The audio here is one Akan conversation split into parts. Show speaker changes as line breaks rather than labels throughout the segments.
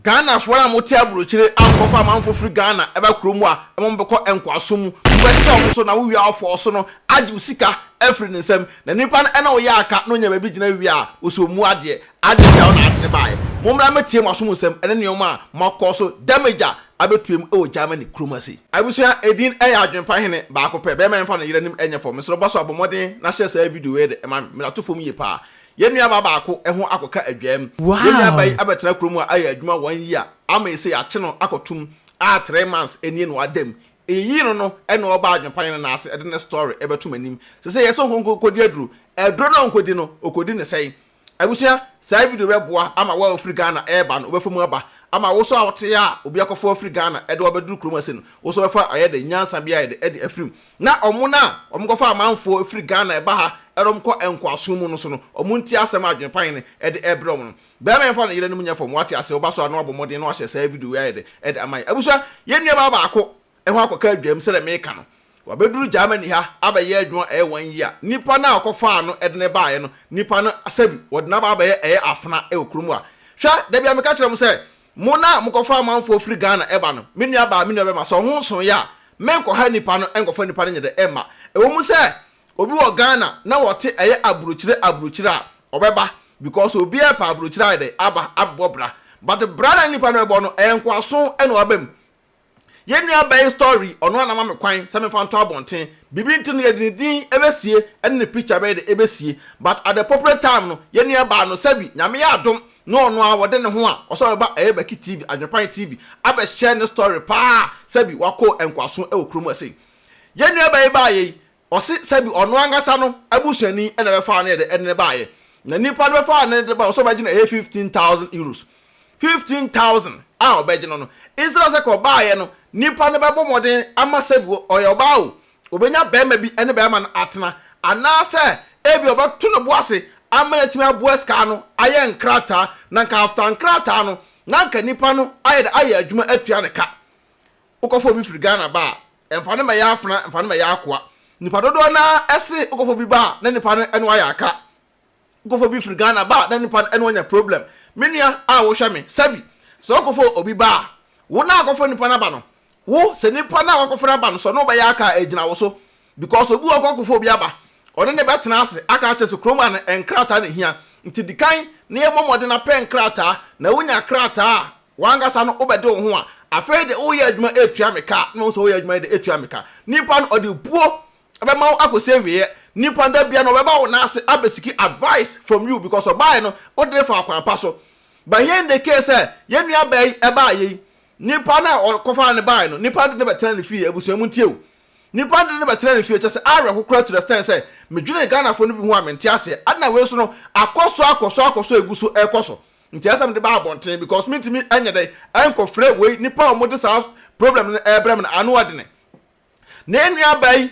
Ghanafoɔ no a wɔte aburokyire a wɔkɔfa amanfoɔ firi Ghana ba kuro mu a ɛma wɔbɛkɔ nkoasom mu no bɛhyɛ wɔn so na wo wia ɔfɔɔ so no agye wo sika afiri ne nsam na nipa no ɛna ɔyɛ aka na ɔnya baabi gyina wie a ɔsɛ ɔmmu adeɛ adeɛ gya wo na ade no baeɛ mommra mmɛtie mo asom nsɛm ɛne nnoɔma a moakɔ so damage a abɛtue mu wɔ Germany kurom ase. Abusua edin ɛyɛ adwenpa hene baako pɛ bɛɛma ɛmfa no yere anim ɛnyɛ fam mesrɛ bɔso abɔ mmɔden na hyɛ saa video wei de ma me mmrato fam yie paa Yɛn nuabaa baako ho akɔka adwaam. Yɛn nuabaa yi abɛtena kurom a ayɛ adwuma one year ama ese yɛakye no akɔtom a three months nie na wadam. Eyiyii no no na ɔbaa Adwempanyin no nan ase de ne story bɛto m'anim. Sesei yɛse ɔnkɔ nkɔdi aduro. Aduro no a ɔnkɔdi no, ɔkɔdi no sɛn? Abusua, saa video yi bɛboa ama wo a wofiri Ghana reba no wobɛfa mu aba. Ama wo nso a wote a obi akɔfa wo afiri Ghana de wo abɛduru kurom ase no, wo nso wobɛfa ayɛ dɛn? Nyansa bi ayɛ dɛn de afiri mu? Na wɔn a wɔkɔfa amanfoɔ firi Ghana ɛba ha na wɔkɔ nkoasom mu no so no, wɔn nti asɛm a Adwenepan no de rebrɛ wɔn no. Barima yɛmfa ne yerenom nyɛ fam, wate aseɛ? Woba so a na wabɔ mmɔden na wahyɛ saa video yi ayɛ dɛ de ama yɛn. Abusua, yɛn nuabaa baako ho akɔka adwaam sɛdeɛ mereka no. Wabɛduru Germany ha abɛyɛ adwuma ɛyɛ one year. Nipa no a wɔkɔfaa no de no baeɛ no, nipa no sɛbi wɔde no aba abɛyɛ ɛyɛ afena wɔ kurom ha. Hwɛ, da biara meka kyerɛ mo sɛ, Mo na mokɔfa amanfoɔ firi Ghana ɛba no, me nua baa, me nua bɛma, sɛ ɔho nso yɛ a, menkɔha nnipa no nkɔfa nnipa no nyɛ dɛ ɛmma. Ɛwɔ mu sɛ obi wɔ Ghana na wɔte ɛyɛ abrokyire abrokyire a, ɔbɛba because obiara ɛpɛ abrokyire ayɛ dɛ aba abɛbɔ bra. But bra na nnipa no bɛbɔ no, ɛyɛ nkoaso na wɔaba mu. Yɛn nua bɛn story ɔno ara na ama me kwan sɛ memfa nto abɔnten. Biribi nti no yɛde ne din bɛsie ne ne picture bɛyɛ dɛ ɛbɛsie but at the appropriate time no yɛn nua baa no sɛbi Nyame yɛ adom na ɔno ara wɔde ne ho a ɔsɔ bɛba ɛyɛ Baki TV, Adwenepan TV abɛhyɛ ne story paa sɛbi wakɔ nkoaso wɔ kurom ha sei. Yɛn nua bɛn baayɛ yi Ɔse sɛ bi ɔno ankasa no abusuani na ɛbɛfaa no de no baeɛ. Na nnipa no bɛfaa no de baeɛ ɔse ɔbɛgye no ɛyɛ fifteen thousand euros. Fifteen thousand a ɔbɛgye no no, instead of sɛ ka ɔbaeɛ no, nnipa no bɛbɔ mmɔden ama sɛ bi ɔyɛ ɔbaa o, ɔbɛnya barima bi ne barima no atena. Anaasɛ ebia ɔbɛto ne bo ase ama no atumi aboa sika no ayɛ nkrataa. Na nka after nkrataa no, na nka nnipa no ayɛ dɛ ayɛ adwuma atua ne ka. Wokɔfa obi firi Ghana ba a, Mfa no mmɛyɛ afena, mfa no mmɛyɛ akoa. Nnipa dodoɔ no ara se wokɔfo bi ba a, na nnipa no ne wo ayɛ aka. Wokɔfo bi firi Ghana ba a, na nnipa no ne wo anya problem. Me nua a wohwɛ me, sɛbi, sɛ wokɔfo obi ba a, wo no a wokɔfo nnipa no aba no, wo, sɛ nnipa no a woakɔfo no aba no, sɛ ɔne wo bɛyɛ aka a, ɛgyina wo so. Because obi wɔ hɔ a wokɔkɔfo obi aba, ɔne no bɛtena ase aka akyɛ sɛ kurom ha no, nkrataa na ɛhia. Nti di kan na yɛmmɔ mmɔden na pɛ nkrataa, na wonya krataa a, W'ankasa no wobɛde wo ho a, afei de woyɛ adwuma retua me ka a, na wohu sɛ woyɛ adwuma yi de retua me ka. Nipa no ɔde buo bɛma wo akɔsi awieɛ. Nipa no da biara no ɔbɛba wo nan ase abɛsiki advice from you because ɔbaeɛ no wode no faa kwan pa so. But here in the case sɛ yɛn nua baa yi baeɛ yi, nipa no a ɔkɔfaa no baeɛ no, nipa no de no bɛtena ne fie, abusua montie o. Nipa no de no bɛtena ne fie, kyerɛ sɛ awerɛho koraa to the extent sɛ medwene Ghanafoɔ no bi ho a mente aseɛ. Adɛn na wei nso no akɔ so akɔ so akɔ so a ɛgu so rekɔ so. Nti ɛsɛ sɛ mede ba abɔnten because mentumi nyɛ dɛn nkɔfrɛ wei nnipa a wɔde saa problem no ɛrebrɛ me no ano adene. Ne nuabaa yi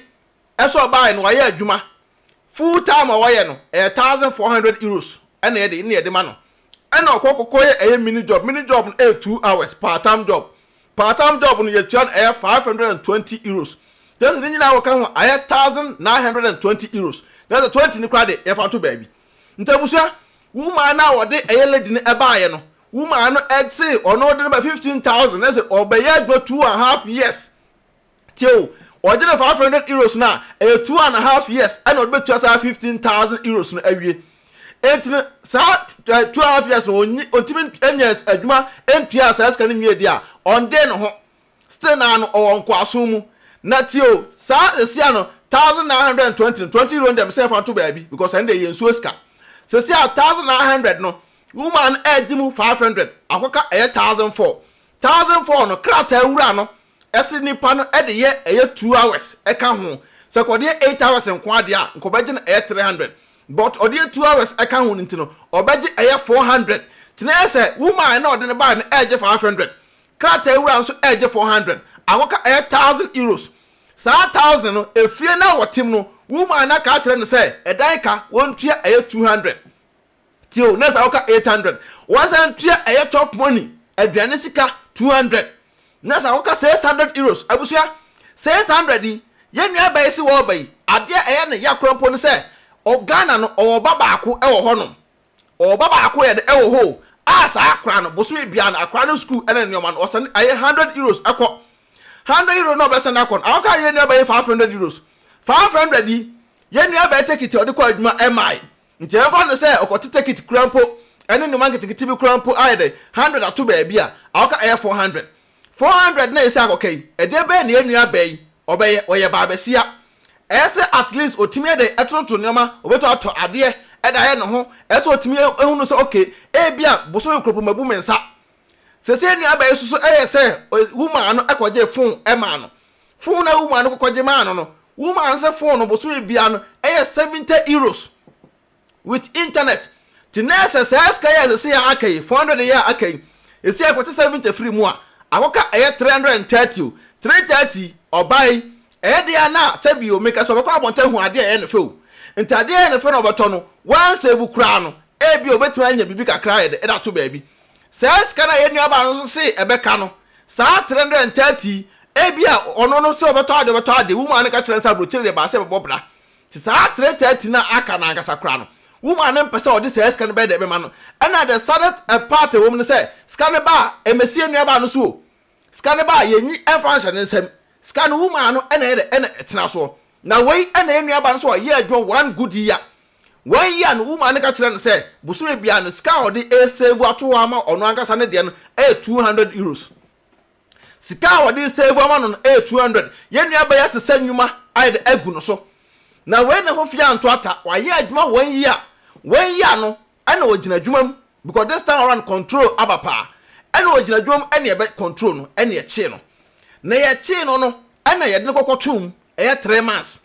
nso a ɔbaeɛ no wayɛ adwuma full time a ɔyɛ no ɛyɛ thousand four hundred euros ɛna ɛde ɛna yɛde ma no ɛna ɔkɔ kɔkɔ yɛ ɛyɛ mini job mini job no ɛyɛ two hours part time job part time job no yɛtua no ɛyɛ five hundred and twenty euros kyerɛ sɛ ne nyinaa wɔka ho ayɛ thousand nine hundred and twenty euros kyerɛ sɛ twenty no koraa de yɛfa to baabi Nti abusua, woman no a wɔde ɛyɛ lady no ɛbaeɛ no, woman no ɛse ɔno ɔde no ba fifteen thousand na ɛse ɔbɛyɛ adwuma two and half years. Tie o, ɔgye no five hundred euros no a, ɛyɛ two and half years ɛna ɔde bɛtua saa fifteen thousand euros no awie. Enti no saa eh, two and half years no ɔntumi nyɛ adwuma ntua saa sika no nwie deɛ a, ɔndee ne ho. Still naa no ɔwɔ nkoasom mu. Na tie o, saa seesei a no thousand nine hundred and twenty no, twenty euro no deɛ mesɛ yɛmfa nto baabi because ɛno deɛ ɛyɛ nsuo sika. Seesei a thousand nine hundred no, woman no ɛregye mu five hundred, akɔka ɛyɛ thousand four. Thousand four no, krataa wura no se nipa no de yɛ ɛyɛ two hours ka ho. Sɛ kɔde yɛ eight hours nko ara deɛ a, nka ɔbɛgye no ɛyɛ three hundred. But ɔde yɛ two hours ka ho no nti no, ɔbɛgye ɛyɛ four hundred. Nti na ɛyɛ sɛ woman no a ɔde no baeɛ no ɛregye five hundred. krataawura nso regye four hundred, akɔka ɛyɛ thousand euros. Saa thousand no, efie no a wɔte mu no, woman no aka akyerɛ no sɛ ɛdan ka wɔntua ɛyɛ two hundred. Tie o, nurse akɔka eight hundred, wɔasan atua ɛyɛ chop money, aduane sika, two hundred. Nurse akɔka six hundred euros. Abusua, six hundred yi, yɛn nua bɛyi se wɔreba yi, adeɛ a ɛyɛ ne ya koraa mpo ne sɛ, Ghana no, ɔwɔ ɔba baako wɔ hɔnom. Ɔba baako yɛ de wɔ hɔ o, a saa akora no bosome biara no akora no sukuu ne nnoɔma no ɔsɛne ɛyɛ hundred euros kɔ. Hundred euro na ɔbɛsɛne akɔ no awɔka yɛn nuabaa yi five hundred euros. Five hundred yi yɛn nuabaa yi tekiti a ɔde kɔ adwuma ɛmmae. Nti ɛmfa no sɛ ɔkɔte tekiti koraa mpo ne nnoɔma nketenkete bi koraa mpo ayɛ dɛn hundred ato baabi a awɔka ɛyɛ four hundred. Four hundred na yɛsi akɔka yi, ɛdeɛ bɛn na yɛn nua bɛɛ yi ɔbɛyɛ, ɔyɛ baabasia, ɛyɛ sɛ at least ɔtumi yɛ dɛn ɛtototo nneɛma, ɔbɛtumi atɔ adeɛ ɛde ayɛ ne ho, ɛyɛ sɛ ɔtumi yɛ hunu sɛ ok, ebia bosome koropo mabu me nsa, seesei yɛn nua bɛɛ yi nso ɛyɛ sɛ woman no kɔgyee phone ɛmaa no, phone a woman no kɔkɔgye maa no no, woman no sɛ phone no bosome biara no ɛyɛ seventy euros. with internet nti na ɛsɛ saa sika yi a sɛsɛ yɛ aka yi four hundred yɛ a aka yi ɛsi a ɛkɔte seventy firi mu a akɔka ɛyɛ three hundred and thirty o three thirty ɔbaa yi ɛyɛ deɛ a na sɛbi o meka sɛ ɔbɛkɔ abɔnten ahu adeɛ a ɛyɛ ne fɛ o nti adeɛ a ɛyɛ ne fɛ na ɔbɛtɔ no wɔn save koraa no ebi ɔbɛtumi anya biribi kakra yɛ de ɛda to baabi saa sika no a yɛn nuabaa no nso se ɛbɛka no saa three hundred and thirty ebi a ɔno no sɛ ɔbɛtɔ adeɛ ɔbɛtɔ adeɛ wumaa no ka kyerɛ no sɛ aburokyire deɛ baasa ɛbɛbɔ bra Te saa three thirty no a aka no ankasa koraa no, wo maa no mpɛ sɛ ɔde saa sika no bɛyɛ dɛn bɛma no? Ɛna the saddest part ɛwɔ mu ne sɛ, sika no baa Ɛmɛsie nuabaa no so o. Sika no baa yɛnyi ɛmfa nhyɛ ne nsam. Sika no wo maa no ɛna ɛyɛ dɛn? Ɛna ɛtena soɔ. Na wei ɛna yɛn nuabaa no sɛ ɔyɛ adwuma one good year. One year no wo maa no ka kyerɛɛ no sɛ bosome biara no sika a ɔde ɛresavu ato hɔ ama ɔno ankasa ne deɛ no ɛyɛ two hundred euros. Sika a wɔde reserve ama no no yɛ two hundred. Yɛn nua bɛyɛ asesa nnwuma ayɛ dɛ agu no so. Na wei ne ho fii anto ata. Wayɛ adwuma one year. One year no ɛna ɔgyina adwuma mu because this time around control aba paa. Ɛna ɔgyina adwuma mu ɛna yɛbɛ control no ɛna yɛkyee no. Na yɛkyee no no ɛna yɛde no kɔkɔtoo mu ɛyɛ three months.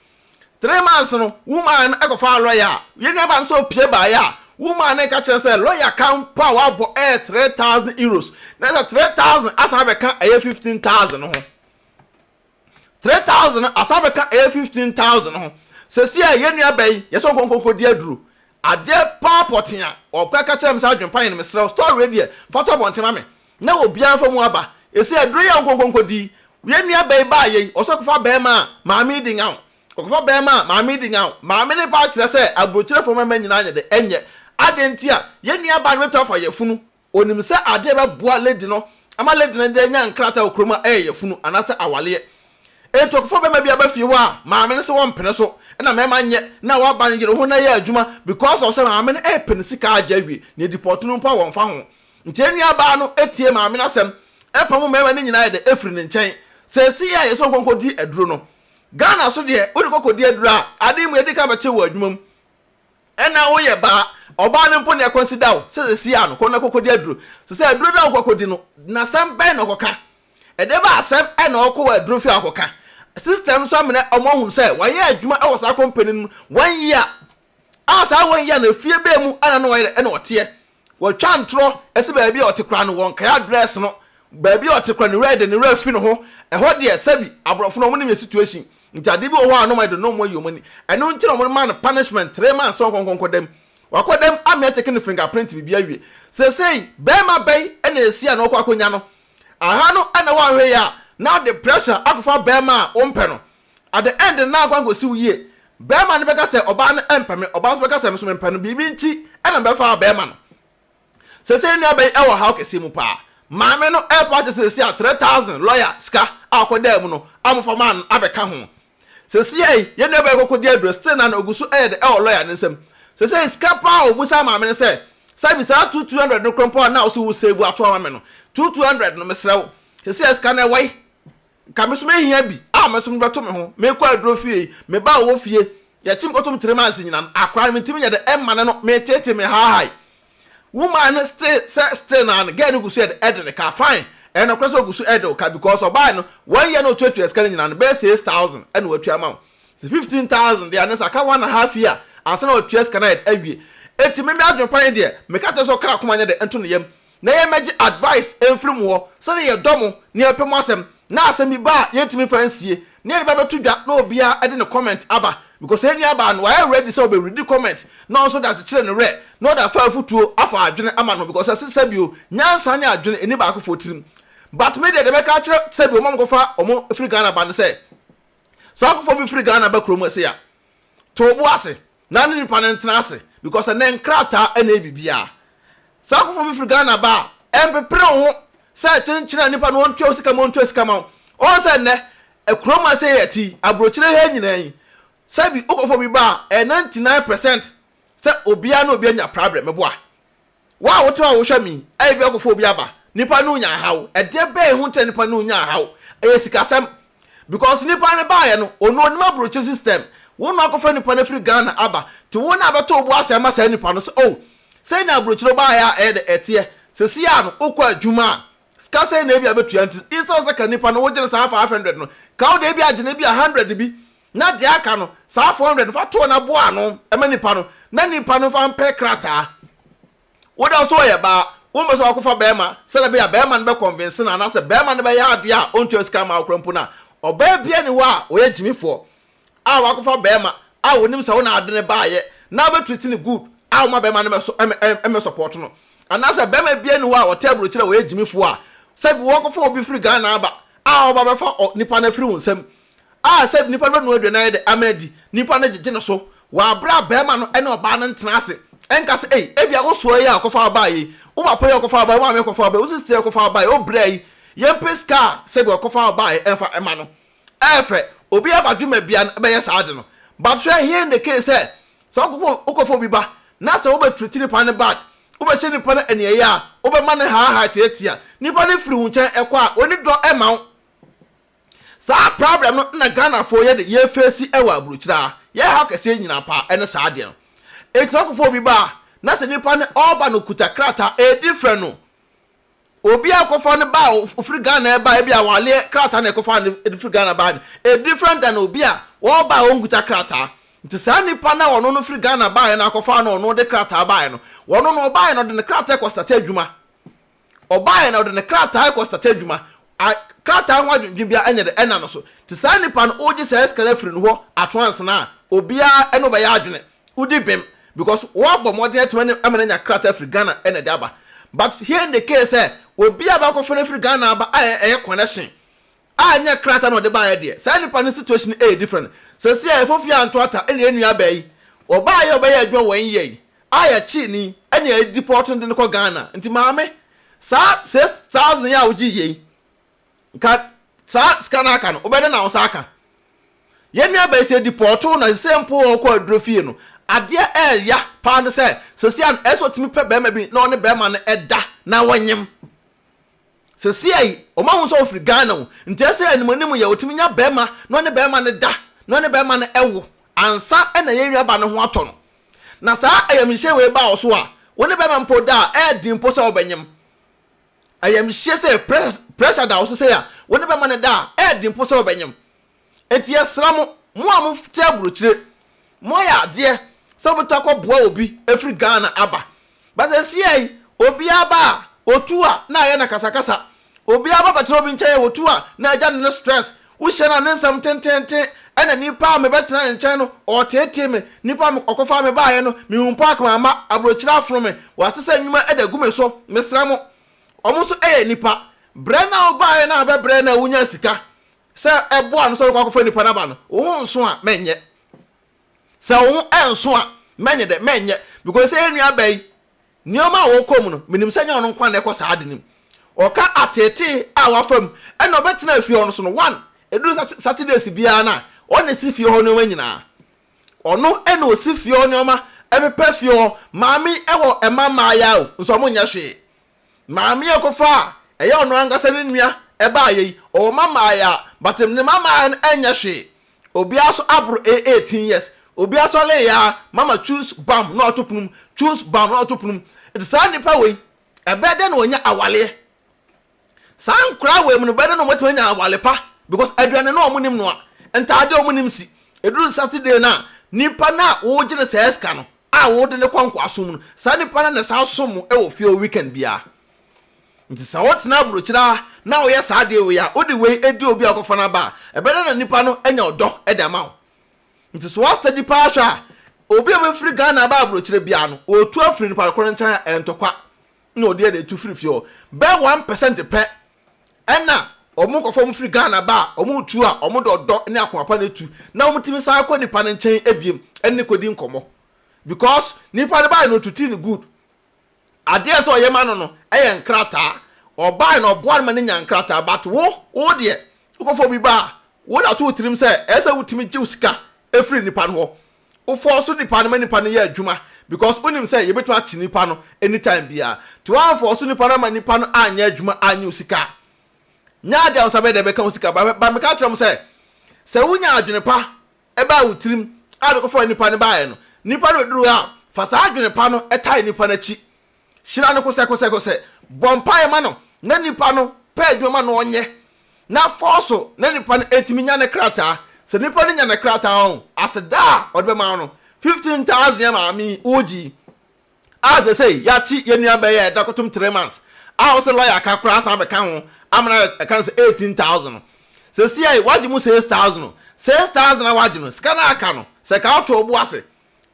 Three months no woman no kɔfaa lɔya a yɛn nuabaa no sɛ ɔpue baeɛ a woman no ka kyerɛ no sɛ lɔya ka mpo a wabɔ yɛ three thousand euros na sɛ three thousand asan abɛka ɛyɛ fifteen thousand no ho three thousand no asan abɛka ɛyɛ fifteen thousand no ho sɛsi a yɛn nuabaa yi yɛsɛ ɔnkɔnkɔnkɔdi aduro adeɛ paa pɔtee a ɔka ka kyerɛ me sɛ adwempa yɛ no mesrɛ wo story wei deɛ fa to abɔnten ma me Na obiara mfa mu aba. Ese aduro yi a nkonkonko di. Yɛn nua bɛyi baa yei ɔsɛ ɔkɔfa bɛɛma a maame yi di nyaw. Ɔkɔfa bɛɛma a maame yi di nyaw. Maame no paa kyerɛ sɛ aburokyerɛfoɔ mɛma nyinaa nyɛ dɛ ɛnyɛ. Adɛn nti a yɛn nua baa no bɛtumi afa yafunu. Onim sɛ adeɛ bɛboa lady no ama lady no de anya nkrataa wɔ kurom a ɛyɛ yafunu anaasɛ awaleɛ. Enti ɔkɔfa bɛɛma bi aba fie hɔ a maame no se wɔmpene so na mɛma nyɛ na waba no yere ho na ɛyɛ adwuma because of sɛ maame no ɛɛpɛ ne sika agye awie. Nea ɛdi pɔtee no mpo a wɔmfa ho. Nti yɛn nuabaa no tiee maame no asɛm pamoo mmarima no nyinaa de firii ne nkyɛn. Seesei a yɛsɛ ɔnkɔ nkɔdi aduro no, Ghana so deɛ, wode kɔ kɔdi aduro a, adeɛ mmienu ɛdi kan bɛkyere wɔ adwuma mu na woyɛ baa. Ɔbaa no mpo na ɛconsider wo sɛ seesei a no, kɔ na kɔkɔdi aduro. Seesei aduro no a wokɔ akɔdi no, asɛm bɛn na ɔkɔka? Ɛdeɛ bɛn asɛm na ɔkɔ wɔ aduro fie a ɔkɔka? System nso amene wɔn ahunu sɛ wayɛ adwuma wɔ saa company no mu one year a saa one year no efie bɛn mu na na ɔyɛ dɛ na ɔteɛ. Wɔtwa ntorɔ si baabi a ɔte koraa no, wɔnkae address no, baabi a ɔte koraa no, ne werɛ de ne werɛ fi ne ho. Ɛhɔ deɛ, sɛbi, aborɔfo no, wɔnim yɛn situation, nti adeɛ bi wɔ hɔ a na wɔayɛ de, na wɔayi wɔn ani. Ɛno nti na wɔmaa no punishment three months sɛ ɔnkɔ nkɔnkɔ dam. Wakɔ dam, amea take ne fingerprint, biribiara awie. Seesei, barima bɛn na ɛsi a na ɔkɔ akɔnya no? Aha no na wahwɛ yɛ a, na ɔde pressure akɔfa barima a wompɛ no, At the end no na akɔ ankɔsiw yie. Barima no bɛka sɛ ɔbaa no mpɛ me, ɔbaa nso bɛka sɛ me nso mempɛ no, biribi nti na mebɛfaa barima no. Seesei nnuaba yi wɔ ɔhaw kɛseɛ mu paa. Maame no repɛ akyɛ sɛ seesei a three thousand lɔya sika a ɔkɔdaa mu no a wɔfa maa no abɛka ho. Seesei yɛn nuabaa yi kɔkɔdi aduro, still na na ɔgu so yɛ dɛ wɔ lɔya no nsam. Seesei sika paa a ɔbisaa maame no sɛ sɛ bi saa two two hundred no korɔ mpo a na ɔse wo save ato ama me no, two two hundred no mesrɛ wo, seesei a sika no ɛwɔ he? Nka me so mɛhia bi a me so me bɛto me ho, mekɔ aduro fie yi, me ba a ɔwɔ fie, yɛkye me kɔto me tiri manse nyina no, akora no me ntimi nyɛ dɛ ɛma no no, me tete me haahae. Woman no still sɛ still naa no girl no gu so yɛ dɛ ɛde ne ka, fine, ɛyɛ nɔkorɛ sɛ ɔgu so ɛde wo ka because ɔbae no, one year na ɔtuatua sika no nyina no, bɛyɛ six thousand ɛna watua ama wo, sɛ fifteen thousand deɛ a ne saa, ka one and half year ansa na watua sika no ayɛ dɛ awie, enti me me adwene pa ne deɛ, meka kyerɛ sɛ ɔkra akoma nyɛ dɛ nto ne yam, na yɛmmɛgye advice mfiri mo hɔ sɛdeɛ yɛdɔ mo na yɛpɛ mo asɛm na asɛm bi ba a yɛntumi mfa nsie na yɛde ba bɛto dwa na obiara de ne comment aba because yɛn nuabaa no wayɛ ready sɛ ɔbɛreadi comment na ɔnso de akyekyere ne werɛ na ɔde afa afutuo afa adwene ama no because ɛse sɛbio nyansa ne adwene ɛni baakofoɔ tirim but me deɛ deɛ mɛka akyerɛ sɛbio ɔma mokɔfa ɔmo firi Ghana ba ne sɛ sɛ ɔkɔfa obi firi Ghana ba kurom ɛse a to wo bo ase Na ne nipa no ntena ase because ɛnɛ nkrataa ɛna ɛyɛ biribiara. Saa nkorɔfoɔ bi firi Ghana ba a, ɛmpepere wo ho sɛ kyenkyene a nipa no ɔntua wo sika ma ɔntua sika ma wo. Ɔhu sɛ nnɛ ɛkurom a sei yɛte yi, aburokyire ha nyinaa yi, sɛbi wo nkorɔfoɔ bi ba a, ɛyɛ ninety nine percent sɛ obiara ne obiara nya prabrɛ, meboa. Wo a wote hɔ a wohwɛ me yi, ɛyɛ bi akɔfa obi aba. Nipa no nya haw. Ɛdeɛ bɛn ho nti na nipa no nya haw? Ɛyɛ sikasɛm. Because nipa no baeɛ no, ɔno ɔnim aburokyire system. Wo na woakɔfa nipa no afiri Ghana aba. Nti wo na abɛtɔ wo bo ase ama saa nipa no sɛ oh, sei na aburokyire wobaeɛ a ɛyɛ dɛ ɛteɛ. Seesei ara no, wokɔ adwuma a, sika sɛn na ebia bɛtua nti instead of sɛ ka nipa no wogyene saa five hundred no, ka wo deɛ ebia gyene ebia hundred bi na deɛ aka no, saa four hundred no, fa to na boa ano ma nipa no, na nipa no nfa mpɛ krataa. Wo dɛ nso ɔyɛ baa, wompɛ sɛ wakɔfa barima sɛdeɛ ɛbɛyɛ a barima no bɛ convince no anaasɛ barima no bɛyɛ adeɛ a ɔntua sika mma wo koraa mpo no a, ɔbaa biara nni hɔ a ɔyɛ gyimifoɔ a wakɔfa barima a ɔnim sɛ wo na ade no baeɛ na wobɛ treat no good a woma barima no mmɛsɔ ɛm ɛm ɛmmɛsupporto no. Anaasɛ barima biara nni hɔ a ɔtɛ aburokyire a ɔyɛ gyimifoɔ a sɛbi wɔkɔfa obi firi Ghana aba a ɔba bɛfa ɔ nipa no afiri wo nsam A Sɛ nnipa bɛnu aduane ayɛ dɛ amena di, nnipa no gyegye no so wɔ bere a barima no ne ɔbaa no ntena ase nka sɛ, Ei, ebia wo soa yi a ɔkɔfa wo bae yi, wo papa yi a ɔkɔfa wo bae yi, wo maame a ɔkɔfa wo bae yi, wo sista yi a ɔkɔfa wo bae yi, o bra yi, yɛmpɛ sika a sɛdeɛ ɔkɔfa wo baeɛ no mfa mma no. Ɛyɛ fɛ. Obiara badwe ma bia no bɛyɛ saa ade no. But hwɛ here ne case sɛ, sɛ wokɔfa wokɔfa obi ba na sɛ wobɛtreati nipa no bad, wobɛhyɛ nipa no aniɛyaa, wobɛma no haahaa tiatia, nipa no firi wo nkyɛn kɔ a, ɔnni dɔ mma wo. Saa problem no na Ghanafoɔ yɛ de yɛ face wɔ abrukyire a, yɛ haw kɛseɛ nyina paa ɛne saa adeɛ no. Nti sɛ wokɔfa obi ba a, na sɛ nipa no ɔɔba no ɔkuta krataa a, ɛdi frɛ no. Obi a wokɔfa no ba a ɔfiri Ghana ɛɛba a, ebia awaleɛ krataa na ɛkɔfaa no de firi Ghana baa no. Ɛyɛ different than obi a ɔɔba a ɔnkuta krataa. Nti saa nipa no a ɔno no firi Ghana baeɛ no akɔfaa no ɔno de krataa baeɛ no, ɔno no ɔbaeɛ no ɔde ne krataa kɔ starte adwuma. Ɔbaeɛ na ɔde ne krataa rekɔ starte adwuma a krataa ho adwendwen biara ɛnyɛ dɛ ɛnna no so. Te saa nipa no wogye saa sika no afiri no hɔ at once no a, obiara ɛne wo bɛyɛ adwene. Wodi bem because woabɔ mmɔden atumi ɛne ama no anya krataa afiri Ghana ɛna ɛde aba. But here in the case sɛ obi a bɛakɔfa no afiri Ghana aba a ɛyɛ connection a ɛnyɛ krataa na ɔde baeɛ deɛ saa nipa no situation no ɛyɛ different seesei a yɛfofie anto ata ɛna yɛn nua baa yi ɔbaeɛ a ɔbɛyɛɛ adwuma wɔ NYa yi a yɛkyee no yi ɛna yɛ deport no de no kɔ Ghana nti maame saa six thousand yi a wogyeeɛ yi nka saa sika no aka no wobɛyɛ dɛn na wo nsa aka yɛn nua baa yi sɛ depɔɔto na seesei mpo wɔ ɔkɔ aduro fie no adeɛ ɛɛya paa no sɛ seesei a ɛsɛ ɔtumi pɛ bɛrima bi na ɔne bɛrima no ɛda na wɔnyem. Sesia yi ɔmo ahu sɛ ɔfiri Ghana o, nti ɛsɛ anim anim yɛ ɔtumi nya bɛɛma na ɔne bɛɛma no da na ɔne bɛɛma no ɛwo ansa na yɛn nua ba no ho atɔ no. Na saa ayamhyehyeɛ wei ba wɔ so a wo ne bɛɛma mpo da a ɛyɛ den mpo sɛ ɔbɛnyem. Ayamhyehyeɛ sɛ pressure da wo so sei a wo ne bɛɛma no da a ɛyɛ den mpo sɛ ɔbɛnyem. Enti yɛsrɛ mo, mo a mote aburokyire, moayɛ adeɛ sɛ mobɛtɔ akɔboa obi afiri Ghana aba. But seesei yi, obiara ba a, ɔtu a, na ayɛ no akasakasa. Obiara ba bɛtena obi nkyɛn a, ɔtu a, na agya no ne stress. Wohyia no a, ne nsɛm tenteenten, ɛna nipa a mebɛtena ne nkyɛn no, ɔreteetee me. Nipa a ɔkɔfaa me baeɛ no, mehu mpo a, mamma, aburokyire afono me. Wɔasesa nnwuma de agu me so. Mesrɛ mo, wɔn nso yɛ nnipa. Berɛ no a wobaeɛ no a, bɛbrɛ na wonyaa sika. Sɛ ɛboa no sɛ ɔkɔ akɔfrɛ nnipa no aba no, wo ho nso a, mɛnyɛ. Sɛ wo ho ɛnso a, mɛnyɛ dɛ, mɛnyɛ. Because sɛ yɛn nua bɛyi, nneɛma a wɔkɔ mu no, menim sɛ nyɛ ɔno nko ara na ɛkɔ saa ade no mu. Ɔka ateetee a wafa mu, ɛna ɔbɛtenaa fie hɔ no so no, one, ɛduru sat, Saturdays biara no a, ɔna ɛsi fie hɔ nneɛma nyinaa. Ɔno ɛna ɔsi fie hɔ nneɛma, ɛpepa fie hɔ, maame ɛwɔ ɛma mmaayaaw, nso wɔnyɛ hwee. Maame a ɔkɔfa a ɛyɛ ɔno ankasa ne nua baeɛ yi, ɔwɔ mma mmaeɛ a, but ne mma mmaeɛ no ɛnyɛ hwee. Obiara nso aboro ɛyɛ eighteen years. Obiara nso ɔlee aa, mama choose bam na ɔto pono mu, choose bam na ɔto pono mu. Nti saa nnipa wei, ɛbɛyɛ dɛn na wɔanya awaleɛ? Saa nkwadaa wei mu no, ɛbɛyɛ dɛn na wɔatumi anya awale pa? Because aduane no wɔnnim noa, ntaadeɛ wɔnnim si. Ɛduru Saturday no a, nipa no a wogye no saa sika no, a wode no kɔ nkoasom mu no, saa nipa no na san som wɔ fie hɔ weekend biara. Nti sɛ wotena aburokyiri ara na woyɛ saa adeɛ wei a, wode wei adi obi a wokɔfa no aba a, ɛbɛda na nipa no anya ɔdɔ de ama wo. Nti sɛ woastadi paa hwɛ a, obi a obɛfiri Ghana aba aburokyire biara no, ɔretu afiri nipa korɔ nkyɛn a, ɛyɛ ntɔkwa na ɔde ɛde retu firi fie hɔ. Bɛyɛ one percent pɛ Ɛna wɔn kɔfɔ wɔn firi Ghana ba a wɔn retu a wɔn de ɔdɔ ne akoma pa na etu na wɔn tumi san kɔ nipa no nkyɛn biom ɛne no kɔdi nkɔmɔ because nipa no baeɛ no ɔtutii no good adeɛ a ɛsɛ ɔyɛ ma no no ɛyɛ nkrataa ɔbaeɛ no ɔboa no ma no nya nkrataa but wo wo deɛ wokɔfɔ obi ba a wode ato wo tirim sɛ ɛsɛ wotumi gye wo sika ɛfiri nipa no hɔ Wo fɔɔso nipa no ma nipa no yɛ adwuma because wonim sɛ yɛbɛtumi akye nipa no anytime biaa nti woanfɔɔso nipa no ama nipa no anyɛ adwuma annye wo sika a nyɛ adeɛ a wo nsa bɛyɛ dɛn bɛka wo sika but but meka kyerɛ mo sɛ sɛ wonya adwene pa ɛbaa wo tirim a de kɔfa nipa no baeɛ no nipa no bɛduru hɔ a fa saa adwene pa no tae nipa no akyi Hyira no kosɛkosɛkosɛ. Bɔ mpaeɛ ma no na nipa no pɛ adwuma ma no ɔnyɛ na fa ɔso na nipa no ɛtumi nya ne krataa. Sɛ nipa no nya ne krataa ɔn aseda a ɔde bɛma wo no, fifteen thousand yɛ maame yi ɔregye yi a sɛsɛi yɛakye yɛn nua bɛyɛ ɛda kotom three months a wo sɛ lɔya aka koraa san bɛka ho ama no ayɛ ɛka no sɛ eighteen thousand no. Sɛsɛi wagye mu six thousand o, six thousand a wagye no sika no a aka no sɛ ka woto wo bo ase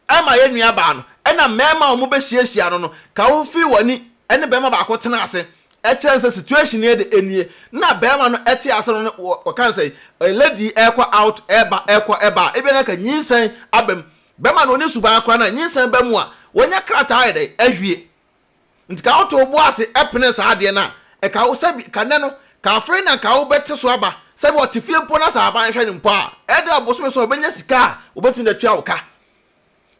ɛma yɛn nuabaa no, ɛnna mmarima a wɔbɛhyiahyia no no ka ho fii wɔn ani ne barima baako tenaa ase kyerɛɛ no sɛ situation no de nie, na barima no te ase no ne wɔ wɔka no sɛ ɛ lady yi ɛrekɔ out ɛreba ɛrekɔ ɛba a ebia na ka nyinsɛn aba mu. Bɛrima no ɔnni suban koraa na nyinsɛn ba mu a wɔnya krataa ayɛ dɛn ahwie. Nti ka wo to wo bo ase pene saa adeɛ no a, ɛka wo sɛ bi, ka nnɛ no, ka afei na ka wo bɛte so aba, sɛ bi ɔte fie mpo na sɛ aban hwɛ no mpo a, ɛyɛ dɛ ɔbosome so a ɔbɛnya sika a ɔbɛtumi de atua wo ka.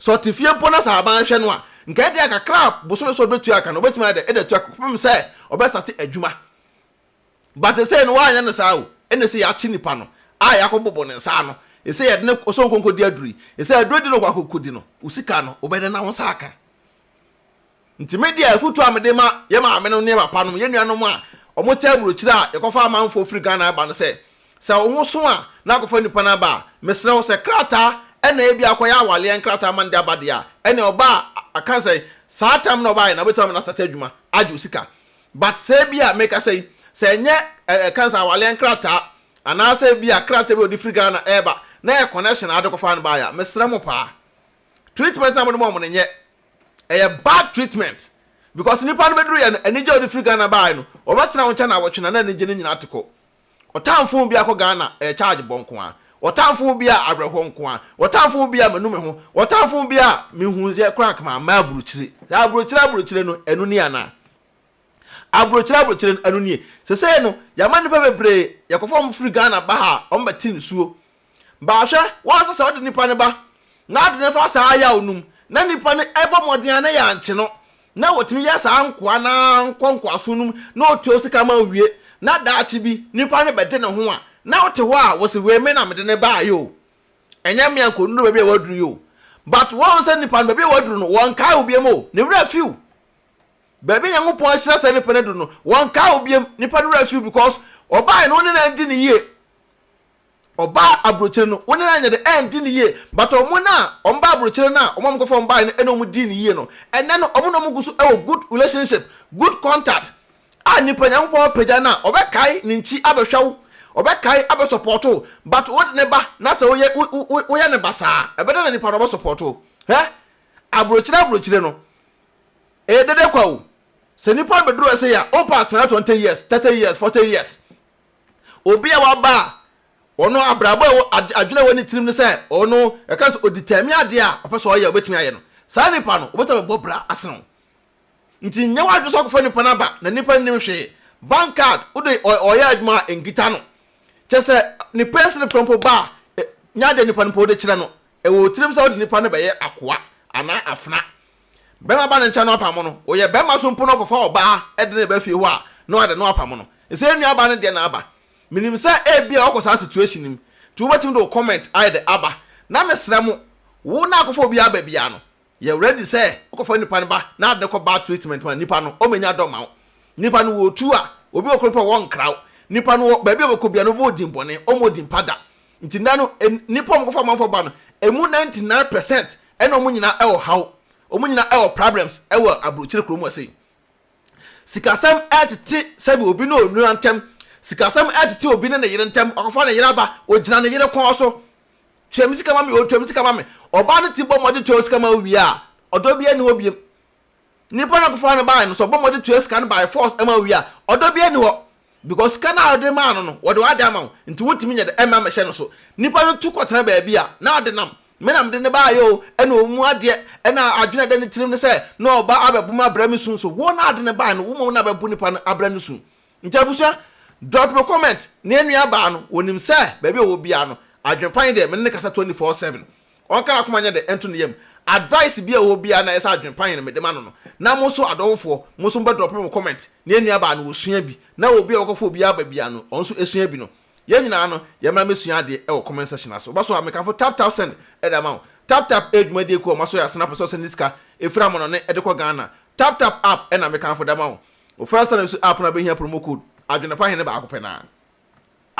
Sɛ ɔte fie mpo na sɛ aban hwɛ no a, nka ɛyɛ dɛ kakra a bosome so ɔbɛtua ka no, ɔbɛtumi ayɛ dɛ de atua ka kɔpem sɛ ɔbɛsate adwuma. But ɛsei no wanyɛ no saa o, ɛna ɛsei yɛakye nipa no a yɛakɔ bobo ne nsa ano, ɛsei yɛde no kɔ sɛ ɔnkɔ nkɔdi aduro yi, ɛsei aduro di na ɔkɔ akɔ kɔdi no, wo sika no, wobɛdɛn na wo nsa aka? Nti me deɛ afotuo a mede ma yɛn maame nom ne yɛn papa nom, yɛn nuanom a wɔte aburokyire a yɛkɔfa amanfoɔ firi Ghana ba no sɛ, sɛ wo ho so a na kɔfa nipa no aba a, mesrɛ wo sɛ krataa ɛna ebia akɔyɛ awaleɛ nkrataa ma no de aba deɛ a, ɛneɛ ɔbaa aka sɛ saa time no a ɔbaeɛ no wobɛtumi ama no asate adwuma agye wo sika. But sɛ ebia mekasa yi, sɛ ɛnyɛ ɛ ɛka sɛ awaleɛ nkrataa anaasɛ ebia krataa bi a wɔde firi Ghana ɛreba na ɛyɛ connection a wode kɔfa no baeɛ a, mesrɛ mo paa. treatment na mo de ma wɔn no nyɛ ɛyɛ bad treatment because nipa no bɛduru yɛ no anigye a ɔde firi Ghana baae no ɔbɛtena wo nkyɛn na awɔtwe na na anigye no nyinaa te kɔ ɔtamfo ho bia kɔ Ghana ɛyɛ charge bɔ nko ara ɔtamfo ho bia awerɛhoɔ nko ara ɔtamfo ho bia manu me ho ɔtamfo ho bia menhuu yɛ koraa nka mamma aburokyire saa aburokyire aburokyire no ɛno ni anaa aburokyire aburokyire no ɛno nie sesei no yɛama nipa bebree yɛkɔfa wɔn firi Ghana ba ha a wɔn bɛte nsuo Ba, hwɛ, woansɛ sɛ wode nipa no ba n'ade no fa saa yaw no mu, na nipa no bɔ mmɔden a na yɛankye no, na otumi yɛ saa nkoa no ara nkɔ nkoasom no mu na otua wo sika ma owie, na daakye bi nipa no bɛde ne ho a, na wote hɔ a wose, 'Wei me na mede no baeɛ o, ɛnyɛ me a nkɔduru baabi a waduru yi o. But woahu sɛ nipa no, baabi a waduru no, wɔnkae wo biam o, ne werɛ afi wo. Baabi a Nyankopɔn ahyira saa nipa no aduru no, wɔnkae wo biam, nipa no werɛ afi wo because ɔbaeɛ no wo ne no adi no yie. Ɔbaa abrokyire no wo ne no anyɛ dɛ ɛndi no yie but ɔmo no a ɔmo ba abrokyire no a ɔmo a ɔmo kɔ fa ɔmo baeɛ no ɛna ɔmo dii no yie no ɛnɛ no ɔmo na ɔmo gu so ɛwɔ good relationship good contact a nipa Nyankopɔn apagya no a ɔbɛkae ne nkyi abɛhwɛ wo ɔbɛkae abɛ support wo but wo ne ba na sɛ woyɛ wo wo woyɛ no basaa ɛbɛdɛ na nipa no ɔbɛ support wo hɛ abrokyire abrokyire no ɛyɛ dede kwa o sɛ nipa no bɛduru ɛsɛ yɛ a wopɛ a tena twenty years thirty years forty years. Obi a waba a, ɔno abrabɔ a ɛwɔ, adwene a ɛwɔ ne tirim ne sɛ ɔno, yɛka sɛ ɔdetermine adeɛ a ɔpɛ sɛ ɔyɛ, ɔbɛtumi ayɛ no. Saa nipa no, wɔbɛtumi abɛbɔ bra asene wo. Nti nyɛ w'adwene sɛ ɔkɔfa nipa no aba, na nipa no nim hwee. Bank card, wode ɔyɛ adwuma a, nkita no. Kyerɛ sɛ, ne payslip no mpo ba a, nya adeɛ a nipa no pɛ wode kyerɛ no. Ɛwɔ wo tirim sɛ wode nipa no bɛyɛ akoa anaa afena. Barima ba ne nkyɛn na ɔpam no, ɔyɛ barima so mpo na ɔkɔfa ɔbaa de no ba fie hɔ a, na wada no apam no. Ɛsɛ yɛn nuabaa no deɛ na aba. Menim sɛ ebia ɔkɔ saa situation no mu, nti wobɛtumi de wo comment ayɛ dɛ aba. Na mesrɛ mo, wo na akɔfa obi aba biara no, yɛ ready sɛ wokɔfa nipa no ba na ade no kɔ bad treatment ma nipa no, ɔmmɛnya dɔ ma wo. Nipa no wɔ otu a, obi wɔ Krompɔn a wɔnkra wo. Nipa no wɔ baabi a ɔbɛkɔ biara no, obi wɔ din bɔne, ɔmmɔ din pa da. Nti nna no nnipa a wɔkɔfa amanfoɔ ba no, ɛmu ninety nine percent ɛna wɔn nyinaa ɛwɔ haw, wɔn nyinaa ɛwɔ problems ɛwɔ aburokyire kuro mu ha sei. Sikasɛm ɛtete sɛbi obi ne onua ntɛm, sikasɛm ɛtete obi ne ne yere ntɛm, wakɔfa ne yere aba, ogyina ne yere kɔn so, tua me sika ma me oo, tua me sika ma me. Ɔbaa no ti bɔ mmɔden tua wo sika ma wo wie a, ɔdɔ biara nni hɔ biam. Nipa na ɔkɔfaa no baeɛ no sɛ ɔbɔ mmɔden tua sika no by force ɛma owie a ɔdɔ biara nni hɔ because sika no a ɔde maa no no wɔde w'ade ama wo nti wontumi nyɛ dɛ mma mmɛhyɛ no so. Nipa no tu kɔtena baabi a na ade nam me na mede no baeɛ o ɛna ɔmmu adeɛ ɛna adwene a ɛda ne tirim ne sɛ na ɔba abɛbo me abrɛ me su nso wo na ade no baeɛ no wo mmom na bɛbo nipa no abrɛ no su Nti abusua, drop your comment na yɛn nua baa no, wɔnim sɛ baabi a ɔwɔ biara no, adwene pa yi deɛ, me ne no kasa twenty four seven. Ɔnka n'akoma nyɛ dɛ nto ne yam. Advice biara a ɔwɔ biara na ɛyɛ sɛ adwene pa yi na mede ma no no. Na mo nso adɔfofoɔ, mo nso mobɛ drop mo comment na yɛn nua baa no, ɔsua bi. Na obi a wakɔfa obi aba biara no, ɔno nso sua bi no. Yɛn nyinaa no, yɛmmra mmɛsua adeɛ wɔ comment section ase. Woba so a, mekafo tap tap send de ama wo. Tap tap yɛ dwumadie kuo a wɔasɔ yɛn ase na pɛ sɛ ɔsɛnde sika firi amanɔne de kɔ Ghana. Tap tap app na mekafo de ama wo. Wofɛɛ sɛ no su app no a bɛhia promo code adwenepa hene baako pɛ no a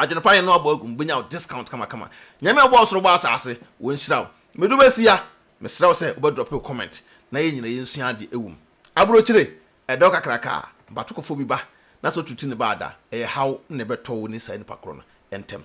adwenepa hene no abɔ agu mu bɛnya wo discount kamakama. Nyame a ɔbɔɔ soro bɔɔ asaase wɔnhyira wo. Medu bɛsi a mesrɛ wo sɛ wobɛ drop wo comment na yɛn nyina yɛnsua adeɛ ɛwɔ mu. Aburokyire ɛdɔ kakraka a but wokɔfɔ bi ba na sɛ otutu ne ba a da ɛyɛ haw na ɛbɛtɔ wo ne saa nipa korɔ no ɛntɛm.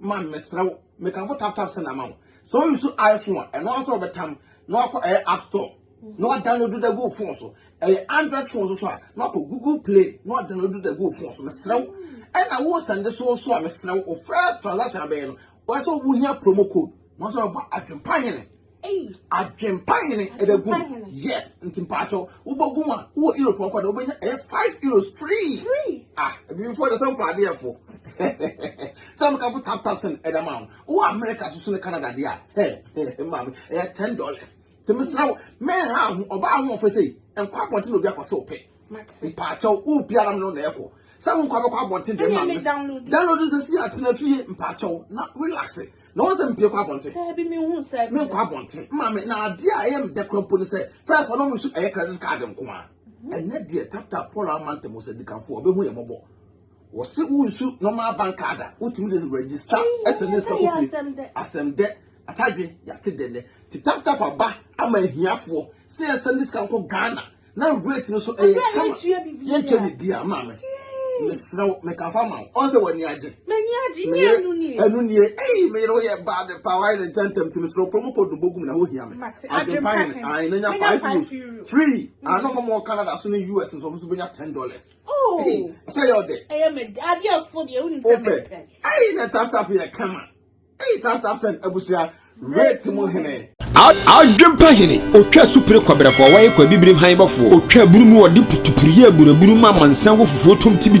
man mesrɛ wo mekamfo tap tap sɛ na ma wo sɛ o use iphone a ɛno ara sɛ ɔbɛtam na wakɔ ɛyɛ eh, app store na wadownload da gu phone so ɛyɛ eh, android phone so so a na wakɔ google play na wadownload da gu phone so mesrɛ wo ɛna wo sɛnde so so a mesrɛ wo first transaction abɛyɛ no wɔsɛ wohia promo code na wɔsɛ wɔbɔ adwempa hene Adwempa hene ɛbɛ gu yes nti mpaatɔ wobɛgu a wowɔ europe ɔkɔ de wobɛnya ɛyɛ five euros free ah ebifoɔ de sɛ mpɔ adeɛ fo sɛ mo kafo tap tap sɛn ɛda maa mo wowɔ america soso ne canada deɛ a hɛ hɛ maame ɛyɛ ten dollars tèmi sra wo mɛn ha ho ɔbaa ahoɔfɛ sɛ nkɔ abɔnten na obi akɔ sɛ ɔpɛ mpaatɔ wo biara mo no na ɛkɔ sɛ wo nkɔ abɛkɔ abɔnten deɛ maa mo download nsɛsi atena fie mpaatɔ na relax na wɔn sɛ mpie kɔ abɔnten daabi mi hu sɛ mi nkɔ abɔnten maame na adeɛ a ɛyɛ mi dɛ kura mpo ne sɛ fɛs wɔn nso ɛyɛ credit card nko a mhm. ɛnɛ deɛ tata paul amanta mu sɛ dikanfo ɔbɛhu yɛ mɔbɔ wɔsi wunsu normal bank card a wotumi de register ɛsɛ ne sɛ kofi asɛm dɛ atadwe yate dɛ dɛ ti tap tap aba ama ahiafoɔ sɛ ɛsɛ ne sika nkɔ ghana na weight no so ɛyɛ eh, kama yɛntwa biribiara maa me mesrɛ wo mekafa ma wo ɔn sɛ w'ani agye meyɛ ɛno nie ei meyere woyɛ bad pa woayɛ ne ntɛntɛm nti mesrɛ wopɛ mu kɔdu bɔgu me na wohia me adwempa yɛ ne ae na nya five euros free mm. ano mɔmɔ wɔ canada so ne us nso ɔmo so bɛnya ten dollars oh. sɛ yɛ ɔdɛ wopɛ ei na taptap yɛ kama Eyi tap tap ten abusua rate mu hene. Adwempa
hene, otwa asupere kɔbrɛfoɔ, wɔyɛ kɔ abibirim han bɔfoɔ, otwa aburu mu, wɔde putupuru yɛ aburaburu ma amansan wɔ fufuo tom tibi.